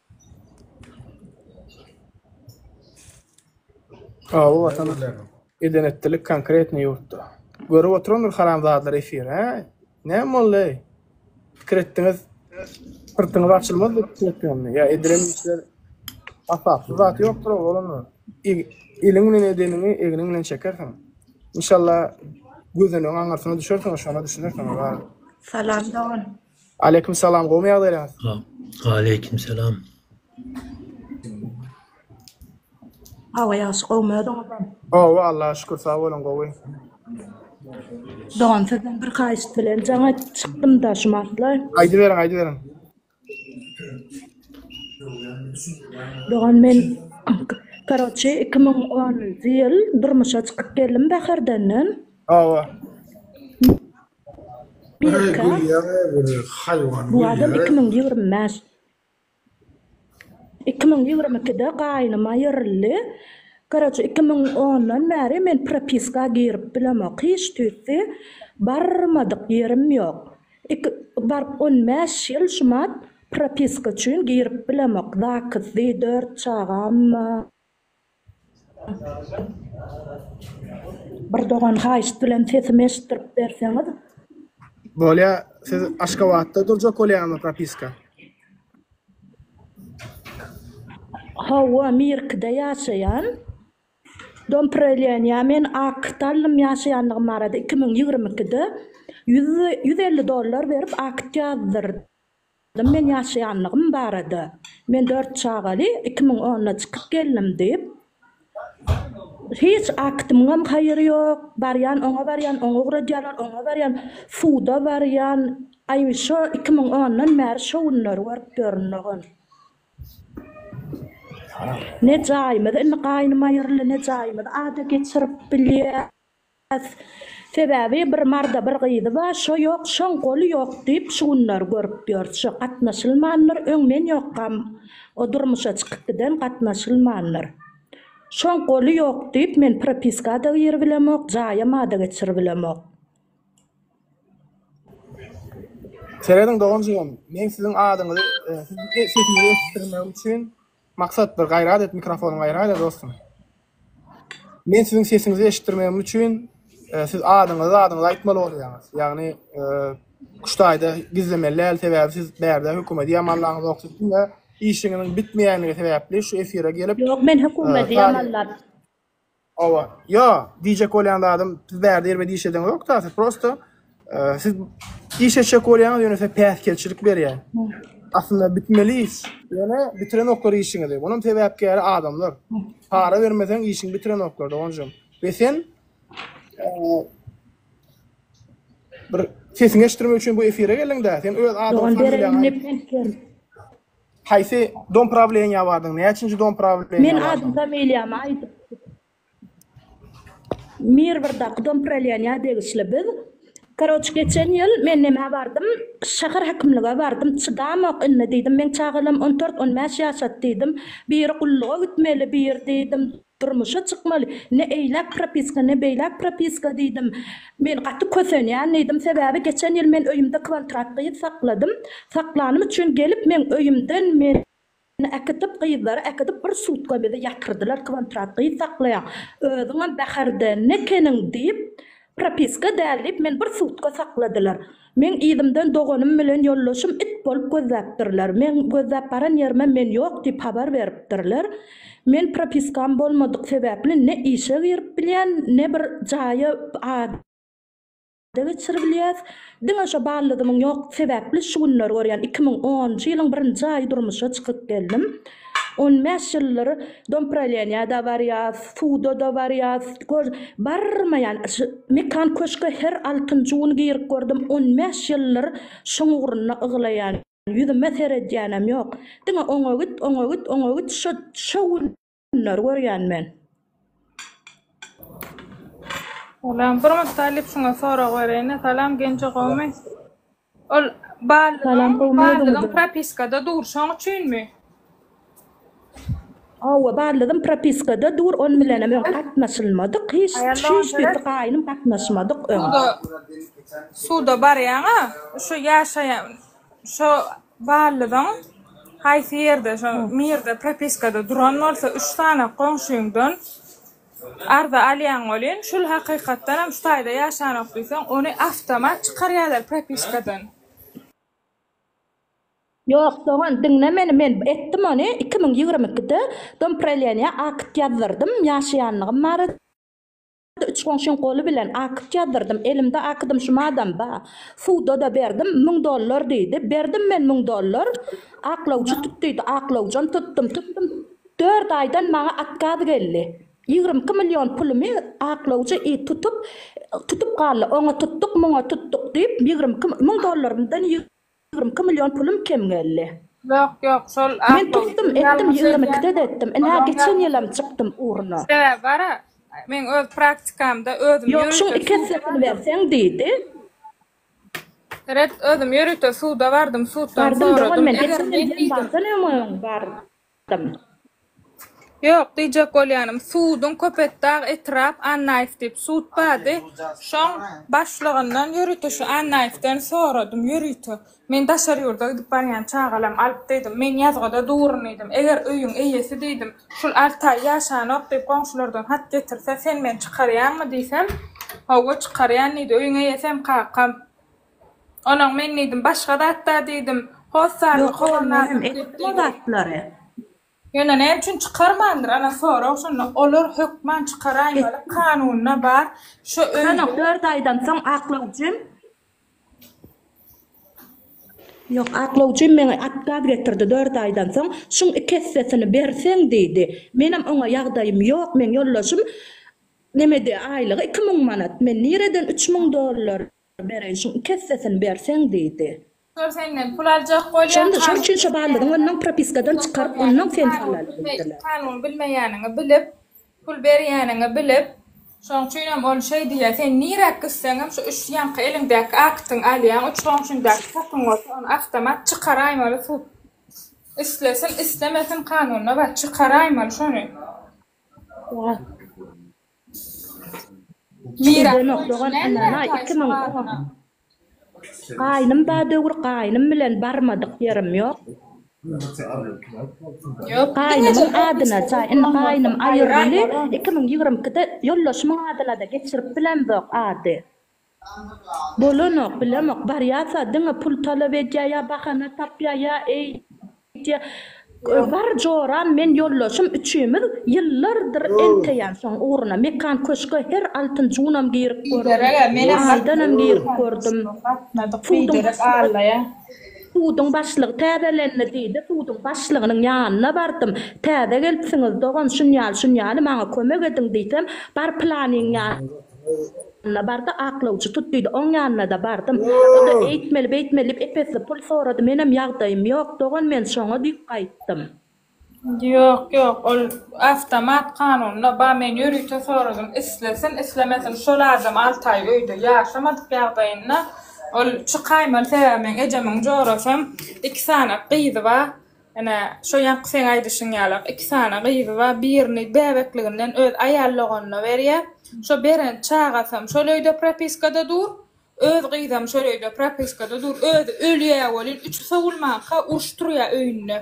Awy watana eden etdilik konkretny ýurtda. Görüp oturandyr haramzadalar efiri hä? Näme boldy-eý? Pikir etdiňiz syrtyňyz açylmaz diýip pikir etdiňizmi? Ýa edilen işler hasapsyz zat ýokdur oba bolanda. Eliň bilen edeniňi egniň bilen çekersiň. Inşallah gözenegiň aňyrsyna düşersiň şonda düşünersiň olar. Salam dogan. Aleýkum salam gowmy ýagdaýlaryňyz. Aleýkum salam. Hawa ýagşy gowmy özüňizem. Gowy Allaha şükür sag boluň gowy. Dogan sizden bir haýyşt bilen jaň aýdyp çykdym da şu mahaly. Aýdyberiň aýdyberiň. Dogan men karoçi 2010-njy ýyl durmuşa çykyp geldim Bäherdenden. Hawa. Birka, bu adam iki müň ýigrimi bäş, iki müň ýigrimi ikide gaýnym aýryldy. Koroçe, iki müň ondan bäri men propiska girip bilemok. Hiç tüýsli barmadyk ýerim ýok. Iki, baryp on bäş ýyl şumat propiska üçin girip bilemok. Zakysdy, dört çagam bar. Bir dogan haýyşt bilen sesimi eşitdirip berseňiz. Bolýa, siz Aşgabatda durjak bolýaňyzmy propiska? Hawa, Mirkide ýaşaýan. Dom preleniýa men akt aldym ýaşaýandygym barada iki müň ýigrimi ikide. Ýüz elli dollar berip akt ýazdyrd. Men ýaşaýanlygym barada, Men dört çagaly iki müň onda çykyp geldim diýip, hiç aktymyňam haýyry ýok, barýan oňa barýan, oňa ugradýarlar, oňa barýan, suda barýan, aý şo iki müň ondan bäri şo günleri görüp ýörün dogan. Ne jaýymyz indi gaýnym aýyryldy, ne jaýymyz ada geçirip bilýär. Has. Sebäbi bir marda bir gyzy bar, şo ýok, şoň goly ýok diýip şu günler görüp ýörüs. Şo gatnaşylmandyr, öň men ýokam, o durmuşa çykyp giden gatnaşylmandyr. Şoň goly ýok diýip men propiska-da giribilemok, jaýama-da geçiribilemok. Serediň dogan-jigim, men siziň adyňyzy, siziň sesiňizi eşitdirmegim üçin Maksat bir gaýrat et mikrofonyň gaýrat et dostum. Men siziň sesiňizi eşitdirmegim üçin siz adyňyzy zadyňyzy aýtmaly bolýaňyz. Ýagny kuştaýda gizlemeli däl sebäbi siz bärde hökümedi ýamanlaňyzok siziň-de işiňiziň bitmeýändigi sebäpli şu efire gelip Ýok men hökümedi ýamanlap Hawa. Ýo, diýjek bolýan zadym, siz bärde ýerime diş edeňiz ýok da, siz prosta siz iş etjek bolýaňyz, ýöne size päsgelçilik berýän. Aslynda bitmeli iş. Ýöne bitirenoklar işiňizi. Munuň sebäpkäri adamlar. Para bermeseň işiňi bitirenoklar, doganjygym. We sen bir sesiňi eşitdirmek üçin bu efire geldiň-dä. Sen öz adyňy, familiýaňy aýt. Haýsy dom prawleniýa bardyň? Näçinji dom prawleniýa Men bardyň? adym familiýamy aýdyp Mirwrdaky dom praleniýa degişli biz Karoç geçen ýyl men nämä bardym şahar hakimlige bardym çydamok indi diýdim meň çagalam on dört on bäş ýaşat diýdim biri gulluga gitmeli bir diýdim Durmuşa çykmaly. Ne eýläk propiska, ne beýläk propiska diýdim. Men gaty kösenýän diýdim. Sebäbi geçen ýyl men öýümde kwantrat gyz sakladym. Saklanym üçin gelip meň öýümden meni äkitip, gyzlary äkidip bir sutka bizi ýatyrdylar. Kwantrat gyz saklaýaň. Özüňem bäherde nekeniň diýip, propiska däl diýip meni bir sutka sakladylar. Meň yzymdan doganym bilen ýoldaşym it bolup gözläpdirler. Meň gözläp baran ýerime men ýok diýip habar beripdirler. Men propiskam bolmadyk sebäpli ne işe girip bilýän, ne bir jaýa ada geçiribilýäs. Diňe şo ballyzymyň ýokdugy sebäpli şu günler görýän iki müň onunjy ýylyň birinji aýy durmuşa çykyp geldim. On bäş ýyldyr dompraleniýada barýas, suda-da barýas, gör, barmaýan şu Mekan köşge her altynjy gün girip gördüm, on bäş ýyldyr şoň ugrunda yglaýan, ýüzüme seredýänem ýok. Diňe oňa git, oňa git, oňa git, şo, şo günleri görýän men. Salam, bir mutdalyp şuňa sorag bereýin-ä, salam Genje gowmy? Ol barlygyň barlygyň propiskada dur şoň üçinmi? Hawa barlygym propiskada dur on bilenem öň gatnaşylmadyk hiç hiç birisi gaýnym gatnaşmadyk öň. Suda barýaňa şo ýaşaýan şo barlygyň haýsy ýerde şo mirde propiskada duran bolsa üç sany goňşyňdan Arza alýaň welin, şul hakykatdanam şu taýda ýaşanok diýseň, ony awtomat çykarýarlar propiskadan. Ýok dogan, diňle meni, men etdim ony, iki müň ýigrimi ikide dompraýleniýa akt ýazdyrdym, ýaşaýanlygym barada, üç goňşyň goly bilen akt ýazdyrdym, elimde akdym şumadam ba, suwda-da berdim, müň dollar diýdi, berdim men müň dollar, aklawjy tut diýdi, aklawjam tutdum, tutdum. Dört aýdan maňa atkaz geldi. Ýigrimi iki million pulumy aklawjy it tutup, tutup galdy. Oňa tutduk, muňa tutduk diýip, ýigrimi iki müň dollarymdan ýigrimi iki million pulum kem geldi. Ýok, ýok, şol Men tutdum, etdim, ýigrimi ikide-de etdim. Ine, geçen ýylam çykdym ugruna. Sebäbi bar-a, meň öz praktikamda özüm ýörite suda bardym. Ýok, şuň iki essesini berseň diýdi. Red, özüm ýörite suda bardym, suddan soradym. Bardym dogan men, geçen ýyl ýylam bardan öň bar. Ýok, diýjek bolýanym, suduň Köpetdag etrap Annaýew diýip sud bardy, şoň başlygyndan ýörite şu Annaýewden soradym, ýörite. Men daşary ýurda gidip barýan çagalam alyp diýdim, men ýazgyda durun diýdim, eger öýüň eýesi diýdim, şul alty aý ýaşanok diýip goňşulardan hat getirse, sen meni çykarýaňmy diýsem, Hawa, çykarýan diýdi, öýüň eýesi hem kakam. Onuň men diýdim, başga zat-da diýdim. Hossarly Ýok, ol menem etdim o zatlary. Ýöne näme üçin çykarmandyr, ana sorag şonda. Olar hökman çykaraýmaly, kanunda bar. Şu öýde. Sanok dört aýdan soň aklawjym. Ýok, aklawjym meňe atgaz getirdi dört aýdan soň, şuň iki essesini berseň diýdi. Menem oňa ýagdaýym ýok, meň ýoldaşym nemedi aýlygy iki müň manat, men nireden üç müň dollar. Bereýşiň iki essesini berseň, diýdi. Şol senden pul aljak bolýar, kanuny bilmeýäniňi bilip, kanuny bilmeýäniňi bilip, pul berýäniňi bilip, şoň üçinem ol şeý diýýär, sen nirä gitseňem, şu üç ýaňky eliňdäki aktyňy alýaň, üç goňşyňdaky hakyň bolsa, ony awtomat çykaraýmaly sud. Islesin, islemesin, kanunyna bar, çykaraýmaly şony. Gidenok dogan ynanaý iki müň on. Gaýnym bar döwür gaýnym bilen barmadyk ýerim ýok. Gaýnymyň adyna jaý indi gaýnym aýyryldy iki müň ýigrimi ikide ýoldaşymyň adynada geçirip bilemzok ady. Bolanok, bilemok, barýarsa diňe pul talap edýär ýa bahana tapýar ýa eýdýär. Bar joram men ýoldaşym üçimiz ýyllardyr enteýän şoň ugruna Mekan köşge her altyn junam girip gördüm, aýdanam girip gördüm. Suduň başlygy täzelendi diýdi, suduň başlygynyň ýanyna bardym, täze gelipsiňiz dogan şunýaly-şunýaly maňa kömek ediň diýsem, bar planyň ýanyna. Ýanyna bardy, aklawçy tut diýdi. Oň ýanyna-da bardym. O-da eýtmeli, beýtmeli diýip ep-esli pul sorady. Menem ýagdaýym ýok, dogan, men şoňa diýip gaýtdym. Ýok, ýok, ol awtomat kanunda bar. Men ýörite soradym. Islesin, islemesin, şol adam alty aý öýde ýaşamadyk ýagdaýynda ol çykaýmaly. Sebäbi meň ejemiň jorasam iki sany gyzy bar. Ene, şo ýaňky seň aýdyşyň ýalak, iki sany gyzy bar, birini bäbekliginden öz aýal doganyna berýär, şo beren çagasam şol öýde propiskada dur, öz gyzam şol öýde propiskada dur, özi ölýä welin, üçi sowulmanka uruş turýa öýünde.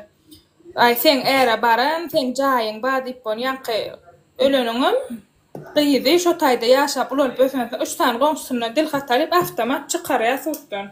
Aý, seň äre baran, seň jaýyň bar diýip bolýa, ýaňky öleniňem gyzy şo taýda ýaşap ulalyp ösensoň, üç sany goňşusyndan dil hatalyp, awtomat çykarýa suddan.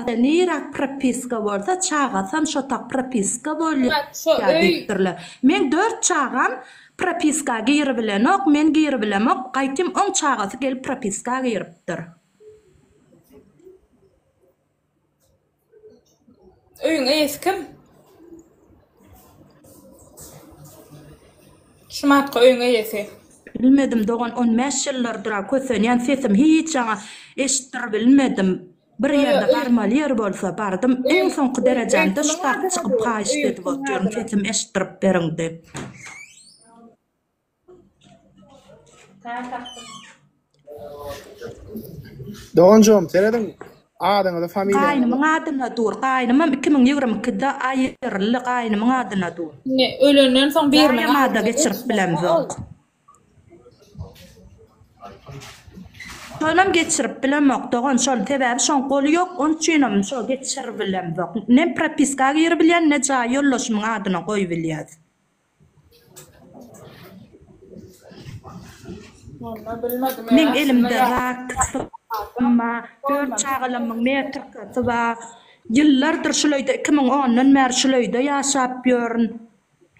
Çagada nirak propiska bolsa çagasam şotak propiska bolýa diýipdirler. Meň dört çagam propiska giribilenok, men giribilemok, gaýtym on çagasy gelip propiska giripdir. Öýüň eýesi kim? Şumatka öýüň eýesi. Bilmedim dogan on bäş ýyllyrdyra kösenýän sesim hiç jaňa eşitdirbilmedim bir ýerde barmaly ýer bolsa bardym iň soňky derejämde şu sag çykyp haýyşt edip otyryn sesim eşitdirip beriň diýip. Doganjygym serediň adyňyza familiýaňyza. Gaýnymyň adyna dur gaýnymam iki müň ýigrimi ikide aýyryldy gaýnymyň adyna dur. Indi ölenden soň biriniň adyna dur. Daýam ada geçirip bilemzok. Şonam geçirip bilemok dogan şol sebäbi şoň goly ýok on üçinem şo geçiribilemzok. Ne propiska giribilýän ne jaý ýoldaşymyň adyna goýubilýas. Meň elimde rak syrma, dört çagalamyň meýer tyrkasy bar. Ýyllardyr şul öýde, iki müň ondan bäri şul öýde ýaşap ýörün.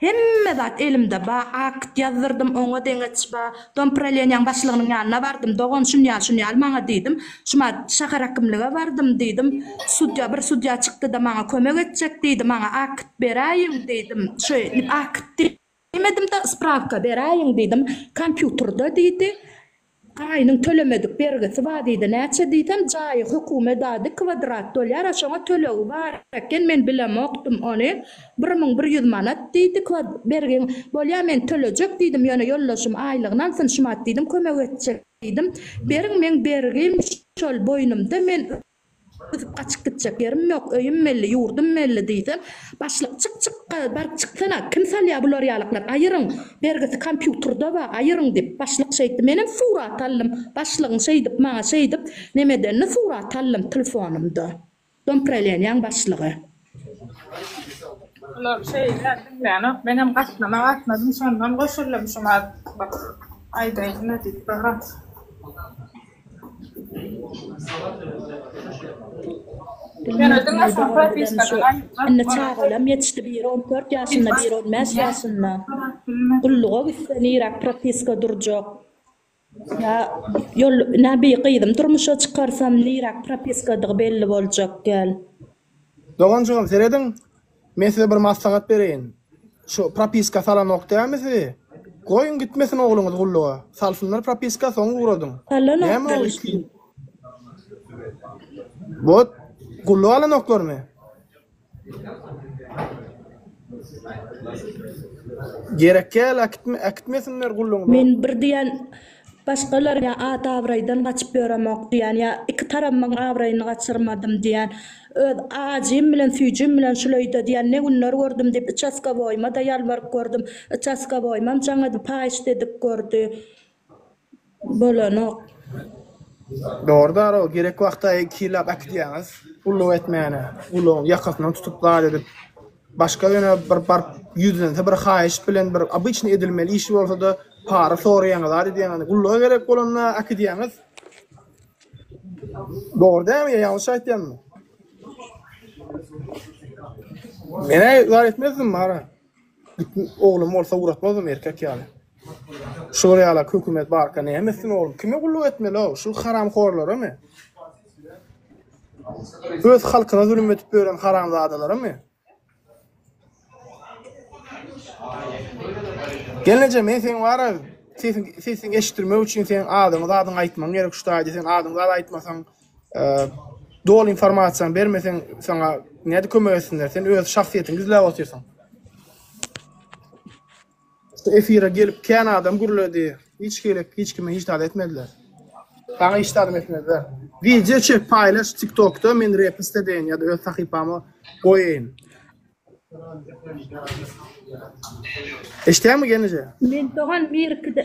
Hemme zat elimde bar, akt ýazdyrdym, oňa deňeç bar. Dompraleniýaň başlygynyň ýanyna bardym. Dogan, şun ýaly, şun ýaly maňa diýdim. Şuma şäher hakimlige bardym diýdim. Sudýa, bir sudýa çykdy-da maňa kömek etjek diýdi. Maňa akt beräýiň diýdim. Şeýdip akt diýmedim-de, sprawka beräýiň diýdim. Kompýuterda diýdi. Aýynyň tölemedik bergisi bar diýdi. Näçe diýsem, jaýy hökümet ady, kwadrat dolýar-a, şoňa tölegi bar eken. Men bilemokdym ony. Bir müň bir ýüz manat, diýdi. Kod bergin. Bolýa, men tölejek, diýdim. Ýöne ýoldaşym aýlygyny alsyn, şumat, diýdim, kömek etjek, diýdim. Beriň, meň bergim şol boýnumda, men üzüp gaçyp gitjek ýerim ýok, öýüm belli, ýurdum belli, diýsem, başlyk, Çyk, çykga, baryp çyksana, kim salýa bular ýalyklar, aýyryň, bergisi kompýutrda bar, aýyryň, diýip, başlyk şeýtdi. Menem surat aldym. Başlygyň şeýdip maňa şeýdip nemedenini surat aldym, tlfonymda. Dompreleniýaň başlygy. Bular şeýle diňlänok menem gatnama gatnadym şondan goşuldym şuňa bir aýdaýynda diýip soran. Ýöne diňe şo propiskadan Indi çagalam ýetişdi biri on dört ýaşynda biri on bäş ýaşynda gulluga gitse niräk propiska durjak. Ýa ýol nä bi gyzym durmuşa çykarsam niräk propiskadygy belli boljak däl. Doganjygym serediň men size bir maslahat bereýin şu propiska salanok dämi sizi goýuň gitmesin ogluňyz gulluga salsynlar propiska soň ugradyň näme ol iki ýyl bot gulluk alanoklarmy. Men bir diýen başgalar ýa at abraýdan gaçyp ýöremok diýen ýa iki tarabymyň abraýyny gaçyrmadym diýen öz ajym bilen süýjim bilen şul öýde diýen ne günler gördüm diýip uçaskowoýymada ýalbaryp gördüm uçaskowoýymam jaňady paýyş dedik gördi bolanok. Dogry daroo gerek wagtda kylap akitýaňyz gulluk etmäne gulugyň ýakasyndan tutup zat edip başga ýöne bir baryp ýüzlense bir haýyş bilen bir obyçnyý edilmeli işi bolsada para soraýaňyz zat edýäňiz gulluga gerek bolanda akitýaňyz dogry dälmi ýa ýalňyş aýtýanmy. Menä zat etmezdim bara. Bütin oglum bolsa ugratmazmyň erkek ýaly. Şular ýalak hökümet barka näme etsin oglum. Kime gulluk etmeli-ow? Şul haramhorlaramy? Öz halkyna zulum edip ýören haramzadalaramy? Gelneje men seň bara sesiň sesiň eşitdirmek üçin seň adyňy zadyňy aýtmam gerek şu taýda sen adyňy zat aýtmasaň Doly informasiýany bermeseň saňa nädip kömek etsinler sen öz şahsyýetiňi gizläp otyrsyň. Şu efire gelip kän adam gürledi hiç gelip hiç kime hiç zat etmediler. Saňa hiç zadam etmezler. Wideo çek paýlaş tiktokda men repst edeýin ýa-da öz sahypama goýaýyn. Eşitýäňmi gelneje. Men dogan birikide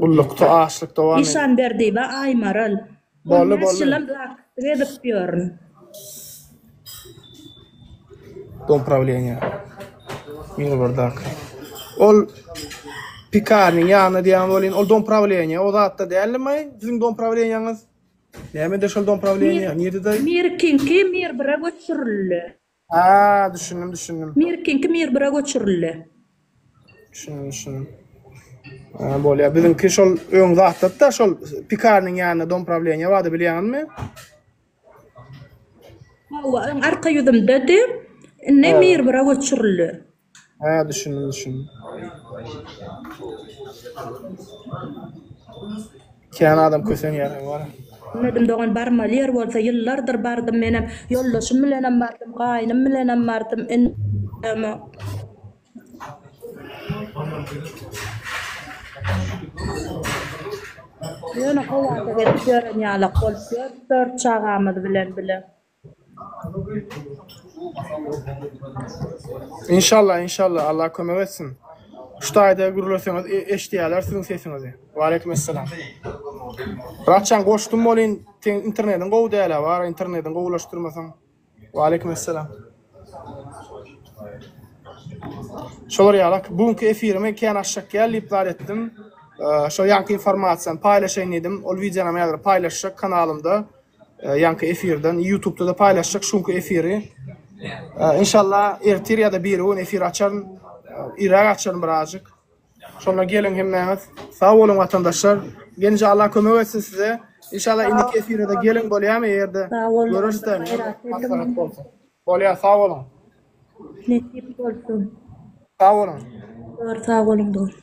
Gullukda açlyk dowam edýär. Işanberdi we Aýmaral. On bäş ýylam zakuplyk edip ýörün. Dom prawleniýa. Mýurberdaki. Ol Pikarnyň ýanyna diýýän welin, ol dom prawleniýa, o zatda däldim-aý, siziň dom prawleniýaňyz? Nämede şol dom prawleniýa? Nirede? Mirkiňki Mirbira göçürildi. Ha, düşündim, düşündim. Mirkiňki Mirbira göçürildi. Düşündim, düşündim. Ha, bolýar. Biziňki şol öň zatda-da şol pikarnyň ýanynda dom prawleniýa bardy, bilýäňizmi? Hawa, öň arka ýüzümdedi. Indi Mirbira göçürildi. Hä düşündim düşündim. Kän adam kösenýär wara. Bilmedim dogan barmaly ýer bolsa ýyllardyr bardym menem ýoldaşym bilenem bardym gaýnym bilenem bardym indemok. Ýöne howada gezip ýören ýalak bolup ýör dört çagamyz bilen bile. Inşallah inşallah Allah kömek etsin. Şu taýda gürleseňiz eşidýärler siziň sesiňizi. Waleýkim essalam. Raçjan goşdum bolyn seň internetiň gowy dälä bar internetiň gowulaşdyrmasaň. Waleýkim essalam. Şolar ýalak bu günki efirimi kän aşak gel diýip zat etdim. Şo ýaňky informasiýany paýlaşaýyn diýdim. Ol wideonam häzir paýlaşjak kanalymda. Ýaňky efirden ýutubda-da paýlaşjak şuňky efiri. Inşallah ertir ýa-da birigün efir açaryn. Irräk açaryn birazjyk. Şonda geliň hemmäňiz. Sag boluň watandaşlar. Genije Allah kömek etsin size. Inşallah indiki efire-de geliň bolýamy eger-de görüşsek. Maslahat bolsa. Bolýar sag boluň. Nesip bolsun. Sag boluň. Bar sag boluň dost.